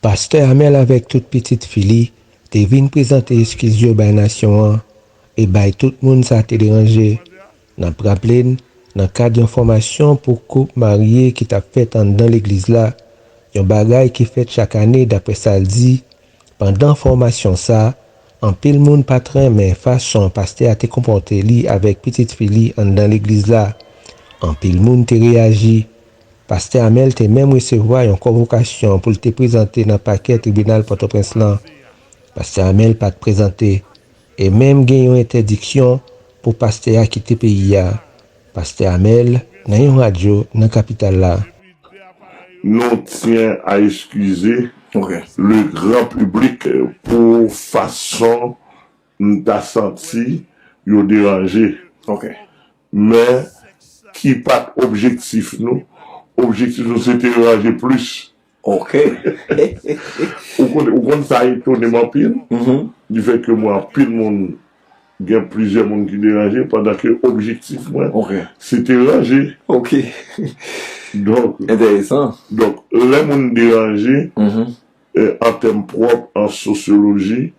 Pastè Amel avèk tout pitit fi li te vin prezante eskiz yo bay nasyon an e bay tout moun sa te deranje. N ap raple n, nan kad yon fòmasyon pou koup marye ki t ap fèt anndan legliz la, yon bagay ki fèt chak ane daprè sa l di, Pandan fòmasyon sa, anpil moun pa t renmen fason pastè a te konpòte li avèk pitit fi li anndan legliz la. Anpil moun te reyaji. Pastè Amel te menm resevwa yon konvokasyon pou l te prezante nan pakè tribinal Pòtoprens lan. Pastè Amel pa t prezante, e menm gen yon entèdiksyon pou pastè a kite peyi a. Pastè Amel nan yon radyo nan kapital la. Nou tyen a eskize le gran piblik pou fason m ta santi yo deranje men ki pat objektif nou, objektif nou se te ranje plis Ok. Ou konn sa etone m anpil, di fè ke mwen anpil moun, gen plizyè moun ki deranje pandan ke objektif mwen se te ranje. Ok. Donk. Enteresan. Donk lè moun deranje, an tèm pwòp, an sosyoloji,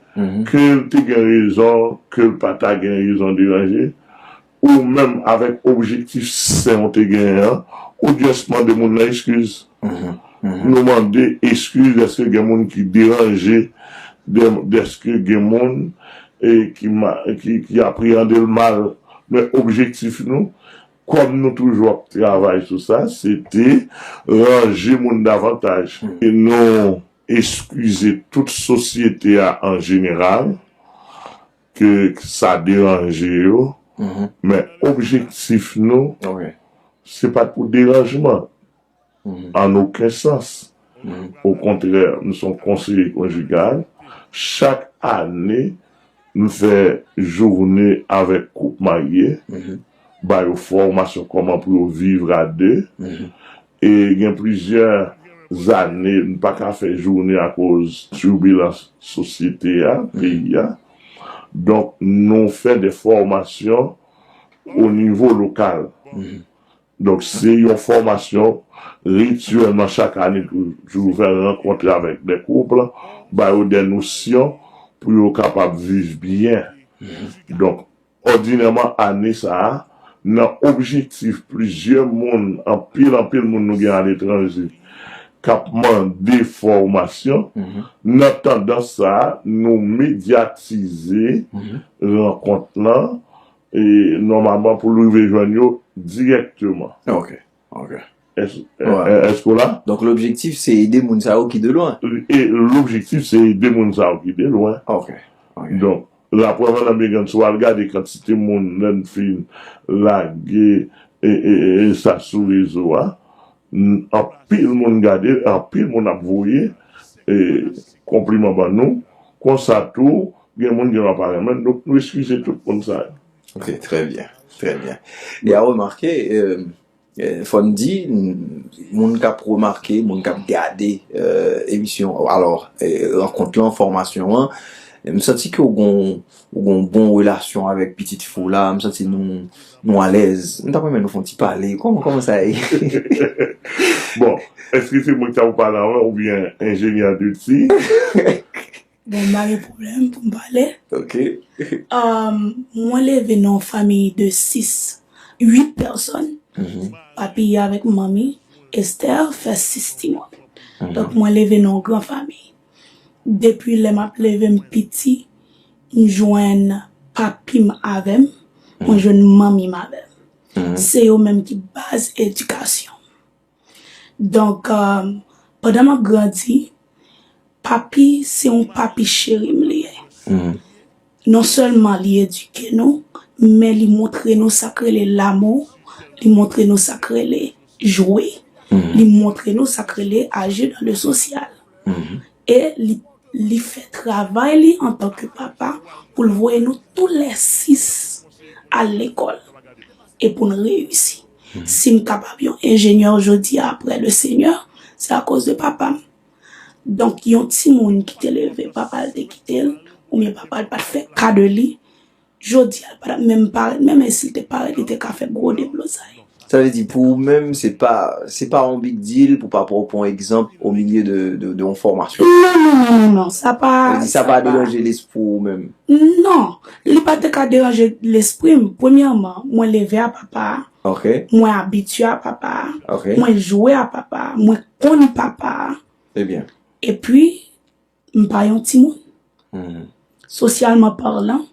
ke l te gen rezon, ke l pa ta gen rezon deranje, Ou menm avèk objektif sen ou te genyen an, ou just mande moun lan eskiz. Nou mande eskiz dèske gen moun ki deranje, dèske gen moun ki apreyande l mal. Men objektif nou, kòm nou toujou ap travay sou sa, se te ranje moun davantaj. Nou eskize tout sosyete a an jeneral. ke sa deranje yo, men objektif nou se pa t pou deranjman an oken sans. Okontrè, m se yon konseye konjigal, chak ane m fè joune avèk koup marye, ba yo fòmasyon kòman pou yo viv a 2, E gen plizyè zane n pa ka fè jounen akoz tibilans sosyete a, peyi a. Donk nou fè de fòmasyon o nivo lokal. Donk se yon fòmasyon rityèlman chak ane toujou fè rankontre avèk de kouple, ba yo de nosyon pou yo kapab viv byen. Donk Òdinèman ane sa a, nan objektif plizyè moun, anpil anpil moun nou gen aletranje k ap mande fòmasyon, nan tandans sa a, nou medyatize rankont lan, nòmalman pou l rive jwenn yo dirèkteman. Ok. Èske ou la? Donk lobjektif se ede moun sa yo ki de lwen. E lobjektif se ede moun sa yo ki de lwen. Ok. Donk, rapò Vann Amegan si w al gade kantite moun lè n fin lage sa sou rezo a, anpil moun gade l, anpil moun ap voye konpliman ban nou. Konsa tou, gen moun ki pa renmen n. Donk nou eskize tout moun sa yo. Ok, trè byen, trè byen. E a remake, fò n di, moun kap remake, moun kap gade emisyon, alò, rankont lan, fòmasyon an, m santi ke w gon bon relasyon avèk pitit fi w la, m santi nou alèz. M ta renmen nou fon ti pale, kòman sa ye? Bon, èske se mwen ki ta pou pale avan oubyen enjenyè Dutsi? Bon, m pa gen pwoblèm pou m pale. Ok. Mwen leve nan yon fanmi de 6, 8 pèsòn. Papi avèk manmi, Esther, fè 6 timoun. Donk mwen leve nan yon gran fanmi. Depi lè m ap leve m piti, m jwenn papi m avè m, mwen jwenn manmi m avè m. Se yo menm ki baz edikasyon m. Donk, pandan m ap grandi, papi se yon papi cheri m li ye. Nonsèlman li edike nou, men li montre nou sa k rele lamou, li montre nou sa k rele jwe, li montre nou sa k rele aji nan le sosyal. E li fè travay li antanke papa pou l voye nou toulèsis al lekòl e pou n reyisi. Si m kapab yon enjenyè jodi a apre Lesenyè, se akoz de papa m. Donk, yon timoun ki te leve papa l te kite l oubyen papa l pa t fè ka de li, jodi a l pa t ap menm parèt menm e si l te parèt li te ka fè gwo deblozay. Sa vle di pou ou menm se pa se pa yon big deal pou papa w pran egzanp omilye de yon fòmasyon? Non, non, non, non, non, sa pa. Sa vle di sa pa deranje lespri w ou menm? Non. Li pa te ka deranje lespri m. Premyèman, mwen leve a papa a, mwen abitye a papa a, mwen jwe a papa a, mwen konn papa a. Epi, m pa yon timoun. Sosyalman palan,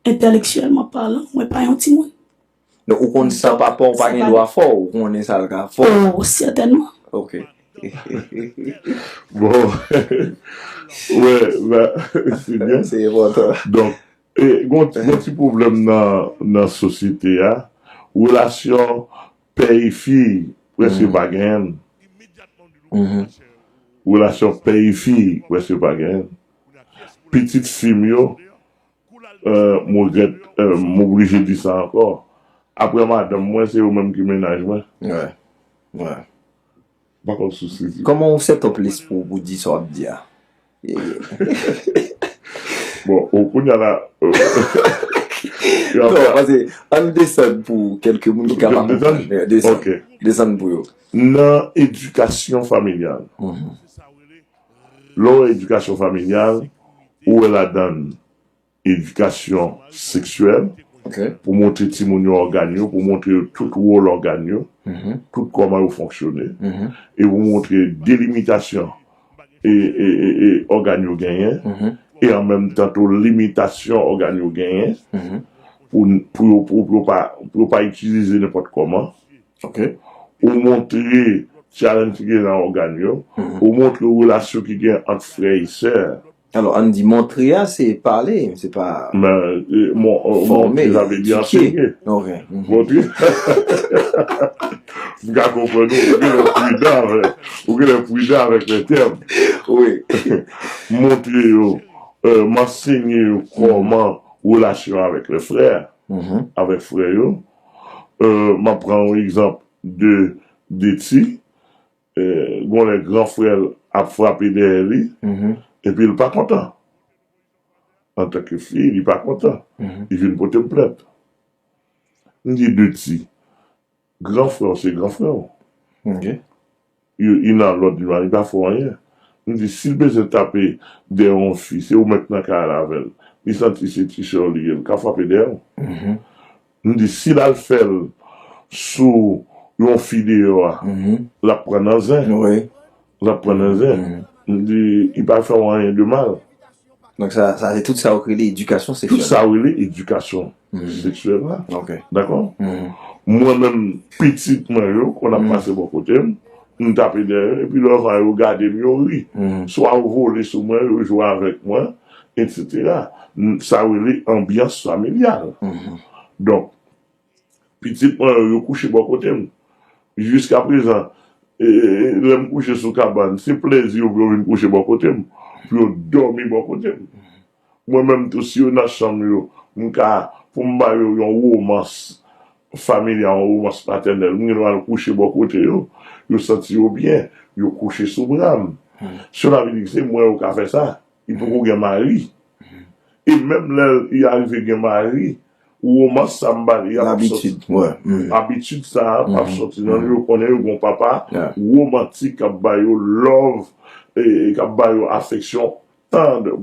entèleksyèlman palan, mwen pa yon timoun. Donk ou konn sa papaw pa gen dwa fè w, ou konnen sa l ka fè w. Oh certainement. Ok. Bon. Wè la se byen. Se enpòtan. Donk gon ti pwoblèm nan sosyete a, relasyon pè e fi prèske pa genyen. Relasyon pè e fi prèske pa genyen. Pitit fi m yo M regrèt m oblije di sa ankò. Aprè madanm mwen, se yo menm ki mennaj mwen. M pa konn sous li di. Kòman ou sètòp lespri w pou w di sa w ap di a? Bon, kounya la. Non, pase, an n desann pou kèlke moun ki ka pa konprann. Desann pou yo. Nan edikasyon familyal. Lè w wè edikasyon familyal, ou wè ladan l edikasyon seksyèl, pou montre timoun yo ògàn yo, pou montre yo tout wòl ògàn yo, tout kòman yo fonksyone, e pou montre delimitasyon ògàn yo genyen, e an menm tan tou limitasyon ògàn yo genyen, pou yo pa itilize nenpòt kòman. Ou montre tyalanj ki gen nan ògàn yo. Ou montre relasyon ki gen ant frè e sè. Alò, ann di montre a se pale, se pa. Men, montre sa vle di ansenye. Montre. M ka konprann ou. Ou genlè pridan avè. Ou genlè pridan avèk lè tèm. Wi. M montre yo, m ansenye yo kòman relasyon avèk lè frè, avèk frè yo. M ap pran yon egzanp de Deti. Gon lè gran frè l ap frape dèyè li epi l pa kontan. Antanke fi, li pa kontan. Li vin pote m plent. M di Deti, gran frè w se gran frè w. Youn nan lòt di m la li pa fè anyen. M di si l bezwen tape dèyè yon fi se ou menm k nan kay la avè l. Li santi se ti sè w li ye l ka frape dèyè w. M di si l al fè l sou yon fi deyò a l ap pran nan zen. L ap pran nan zen. M di li pa fè w anyen de mal. Donk sa sa se tout sa ou rele edikasyon seksyèl. Tout sa ou rele edikasyon seksyèl la. Ok. Dakò? Mwen menm pitit mwen yo konn ap pase bò kote m, m tape dèyè yo epi lè yo va yo gade m yo ri. Swa yo vole sou mwen, yo jwe avèk mwen etc. Sa rele anbyans familyal. Donk. Pitit mwen yo, yo kouche bò kote m. Jiskaprezan, lè m kouche sou kabann, se plezi yo pou yo vin kouche bò kote m, pou yo dòmi bò kote m. Mwen menm tou, si yo nan chanm yo, m ka, pou m ba yo yon womans familyal, yon womans patènèl, m gen dwa al kouche bò kote yo. Yo santi yo byen, yo kouche sou bra m. Sela vle di ke se mwen yo ka fè sa. Li poko gen mari. E menm lè li arive gen mari, Romans sa m ba li a pap soti. Labitid, wè. Abitid sa a pap soti nan yo. Yo konnen yo gen yon papa romantik k ap ba yo love, k ap ba yo afeksyon tendre,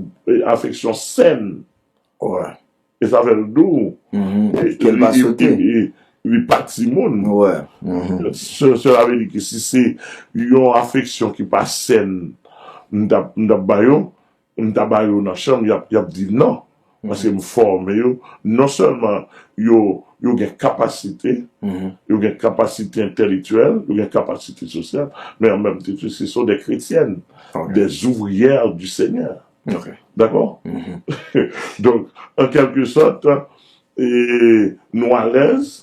afeksyon sen. Wè. E sa fè l dou. Kè l pa sote. Li pa timoun. Wè. Sela vle di ke si se yon afeksyon ki pa sen m t ap ba yo, M ta ba yo nan chanm yap yap di nan paske m fòme yo non sèlman yo yo gen kapasite yo gen kapasite entèlektyèl yo gen kapasite sosyal men an menm tan tou se son dè kretyèn dè ouvriyè di senyè dakò donk an kèlke sòt nou alèz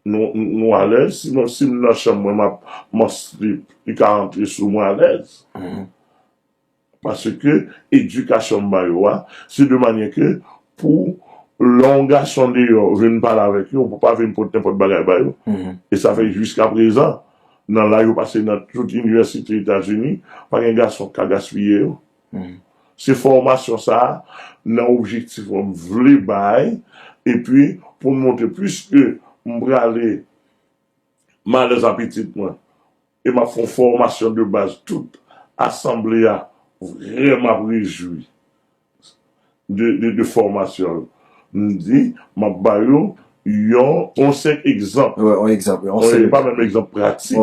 nou alèz si mwen si m nan chanm mwen map m an slip li ka antre sou mwen alèz. Paske edikasyon m ba yo a, se de manyè ke pou lè yon gason deyò vin pale avèk yo, pou pa vin pot nenpòt bagay ba yo. E sa fè jiska prezan, nan laj yo pase nan tout inivèsite Etazini, pa gen gason k ka gaspiye yo. Se fòmasyon sa a, nan objektif mwen m vle bay, epi pou m montre, piske m prale M alèz a pitit mwen e map fon fòmasyon de baz tout asanble a vrèman ap rejwi de fòmasyon l m di map ba yo yon on senp egzanp e pa menm egzanp pratik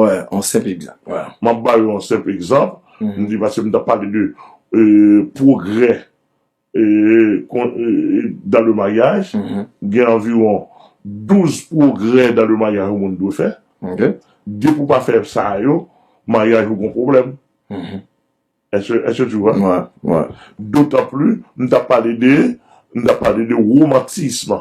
map ba yo on senp egzanp m di paske m tap pale de pwogrè dan le maryaj, gen anviwon 12 pwogrè dan le maryaj yon moun dwe fè. Depi ou pa fè sa yo, maryaj ou gen yon pwoblèm. Èske tu wè? Dotanpli, m ta pale de, m ta pale de romantisme.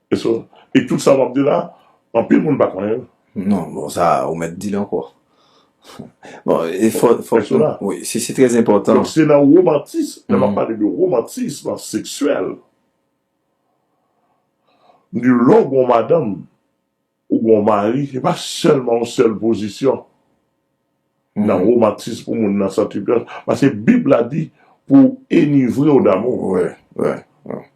E tout sa wap di la anpil moun pa konnen l. Non bon sa ou mèt di l ankò. Bon e fòk nou si se trè enpòtan. Donk se nan womantis lè map pale de womantis seksyèl m di lè w gen yon madanm Ou gen yon mari, se pa sèlman yon sèl pozisyon nan romantism pou moun nan santi l byen. Pase Bib la di pou w enivre w damou.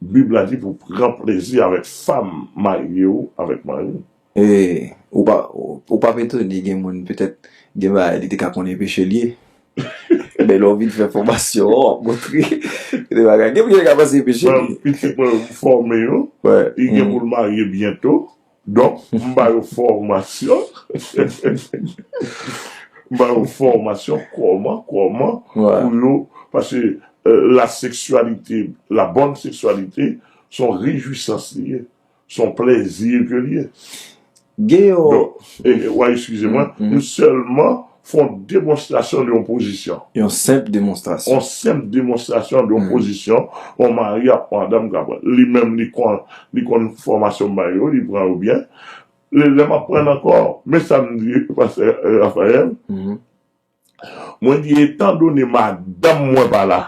Bib la di pou w pran plezi avèk fanm marye ou, avèk mari ou. E ou pap etone gen moun petèt gen bagay li te ka konnen peche l ye. Men lè w vin fè fòmasyon an, w ap montre gen bagay. Gen moun ki te ka panse se peche li. Pitit mwen yo m fòme yo, li gen pou l marye byento. Donk, m ba yo fòmasyon, m ba yo fòmasyon kòman, kòman pou yo, paske la seksyalite, la bonne sexualité, s on rejwisans li ye, s on plèzi ke l ye. Gen yon. Donk, w a eskize mwen, m sèlman. Fè yon demonstrasyon de yon pozisyon. Yon senp demonstrasyon. Yon senp demonstrasyon de yon pozisyon yon mari ak yon madanm ka pran. Li menm li konn, li konn fòmasyon m bay yo, li pran yo byen. Lè m ap pran ankò, men sa m di pastè Raphaël, mwen di etandone madanm mwen pa la,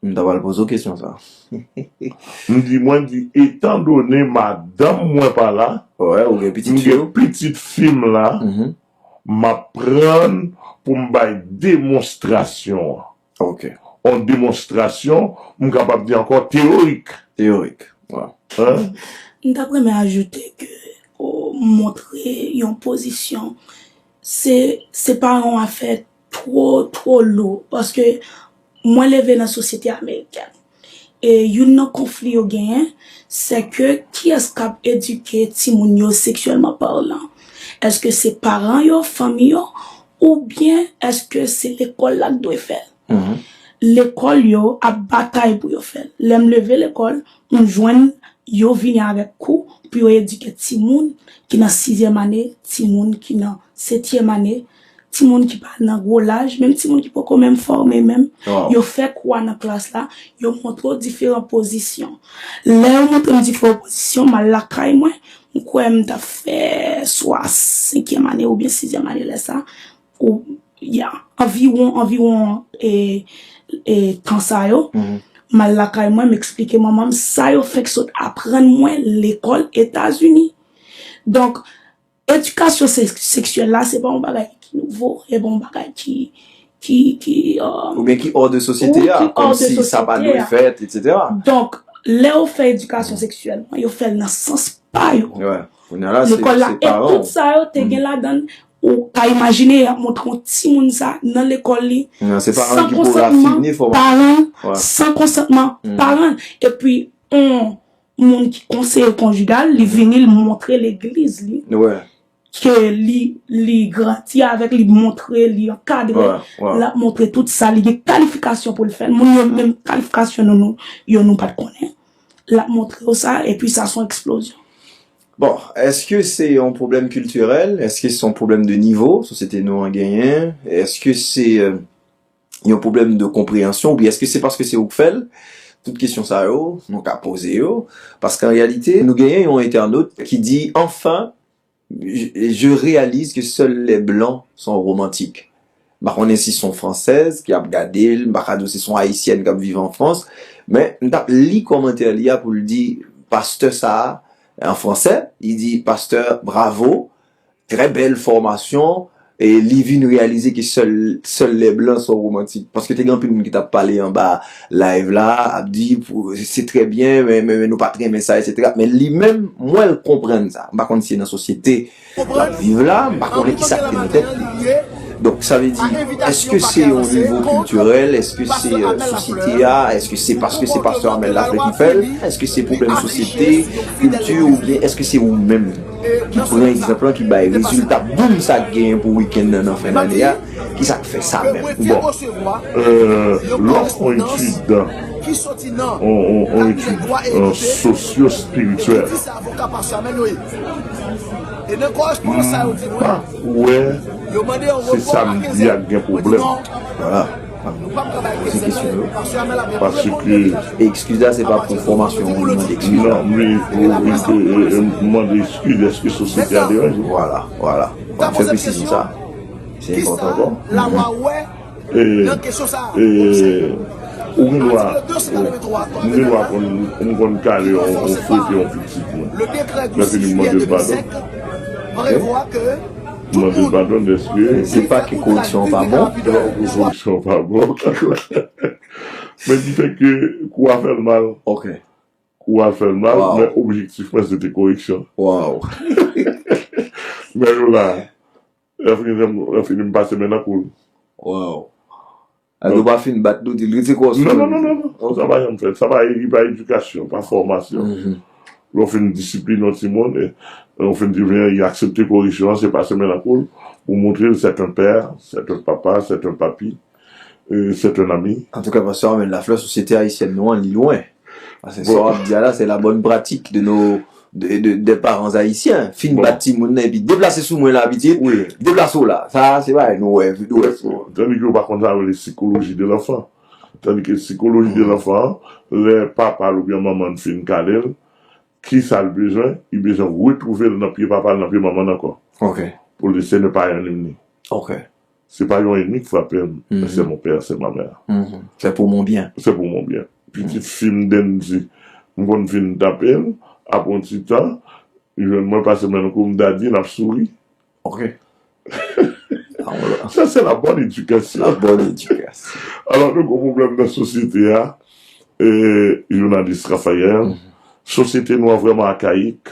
M ta pral poze w kesyon sa a. Mwen di etan done madanm mwen pa la, m gen pitit fi m la, m ap pran pou m bay demonstrasyon an. On demonstrasyon, m kapab di ankò teyorik. Teyorik, waw. M ta p renmen ajoute ke montre yon pozisyon se pa yon afè two two lou paske mwen leve nan sosyete amerikèn e youn nan konfli yo genyen se ke kiyès kap edike timoun yo seksyèlman parlan eske se paran yo fanmi yo oubyen eske se lekòl la k dwe fèl lekòl yo ap batay pou yo fèl lèm leve lekòl m jwenn yo vini avèk kou pou yo edike timoun ki nan sizyèm ane timoun ki nan setyèm ane. Timoun ki pa nan gwo laj, menm timoun ki poko menm fòme menm, yo fè kou a nan klas la, yo montre w diferan pozisyon. Lè yo montre m diferan pozisyon, m al lakay mwen, m kwè m t ap fè swa senkyèm ane oubyen sizyèm ane lè sa, ou ya, anviwon, anviwon e, e tan sa yo, m al lakay mwen, m eksplike manman m sa yo fenk sot aprann mwen lekòl Etazini. Donk. Edikasyon seksyèl la se pa yon bagay ki nouvo, se pa yon bagay ki, ki, ki, euh. Oubyen ki ò de sosyete a, kòm si sa pa dwe fèt, et cetera. Donk, lè yo fè edikasyon seksyèl, yo fè l nan sans pa yo. Wè, kounye a la se paran w. E tout sa yo te gen ladan l, ou ka imajine y ap montre yon timoun sa nan lekòl li, san konsantman paran l, san konsantman paran l. Epi, yon moun ki konseye konjigal li vini li montre legliz li ke li grandi avèk li montre li ankadre l ap montre tout sa li gen kalifikasyon pou l fè l moun yo menm kalifikasyon nou yo nou pat konnen l ap montre yo sa epi sa son eksplozyon bon eske se yon pwoblèm kiltirèl eske se yon pwoblèm de nivo sosyete nou an genyen eske se yon pwoblèm de konpreyansyon oubyen èske se paske se ou k fèl? Tout kesyon sa yo nou ka poze yo paske an reyalite nou genyen yon entènot ki di enfin je réalise que seuls les blancs sont romantiques m pa konnen si son fransèz ki ap gade l m pa ka di w si son ayisyèn k ap viv an frans men m t ap li kòmantè li a pou l di pastè sa a an fransè li di pastè bravo Trè bèl fòmasyon. E li vin reyalize ke sèl, sèl lè blan son romantik. Paske te gen anpil moun ki tap pale anba live la, ap di se trè byen men, men nou pat renmen sa etsetera. Men li menm, m wè l konprann sa. M pa konn si e nan sosyete l ap viv la, m pa konnen kisa ki te nan tèt li. Donk sa vle di, eske se yon nivo kiltirèl, eske se sosyete a, eske se paske se pastè Amel Laflè ki fè l, eske se pwoblèm sosyete, kilti oubyen eske se ou menm? ki pran egzanp lan ki bay rezilta boom sa genyen pou weekend nan nan fen lane a ki sak fè sa menm bon euh lòm on etid dan on etid sosyo spirityèl mpa kwè se sa mdi a gen pwoblèm. Poze kesyon yo. Paske. E ekskiz la se pa pou fòmasyon ou mande ekskiz la. Non, men ou mande ekskiz dèske sosyete a deranje ou. Vwala, vwala. Fò m fè presizyon sa. Se enpòtan pou m. Ou gen dwa. M gen dwa konn, m konn kale yon fwete yon pitit mwen. Lèke li mande padon. Ok. Tout moun. Se pa ke koreksyon an pa bon. Ke koreksyon an pa bon. Men ki fè ke kou a fè l mal. Ok. Kou a fè l mal. Waw. Men objektif mwen se te koreksyon. Waw. Men yo la. Lè fini m pase men nan kou l. Waw. Al yo pa fin bat nou dil rete kòw sou menw. Non sa pa janm fèt sa pa edikasyon pa fòmasyon lè ou fin disiplin yon timoun ou fin di vini li aksepte koreksyon se pase men nan koul ou moutrel sèt an pè sèt an papa sèt an papi sèt an ami. Antouka pastè Armel laflè sosyete ayisyèn nou an li lwen paske sa wap di a la se la bòn pratik de no 2 parents haïtiens fin bat timoun nan epi deplase sou mwen la pitit deplase w la sa se bagay nou wè tou wè tou an. Tandis ke yo pa konn sa yo rele psychologie de l'enfant tandis ke psychologie de l'enfant an lè papa l ou byen manman l fin kale l kisa l bezwen li bezwen retrouve l nan pye papa l nan pye manman l ankò ok pou l di se ne pa yon ni m ni ok. Se pa yon enmi k frape m, men se mon père, se ma mère. Se pou mon bien. Se pou mon bien. Pitit fi m Dendy, m konn fin tape l, apre yon ti tan, li jwenn mwen, pase men nan kou m, Daddy, n ap souri. Ok. Sa se la bonne éducation. La bonne éducation. Alò nou gen pwoblèm nan sosyete a, jounalis Raphaël, sosyete nou an vrèman akayik.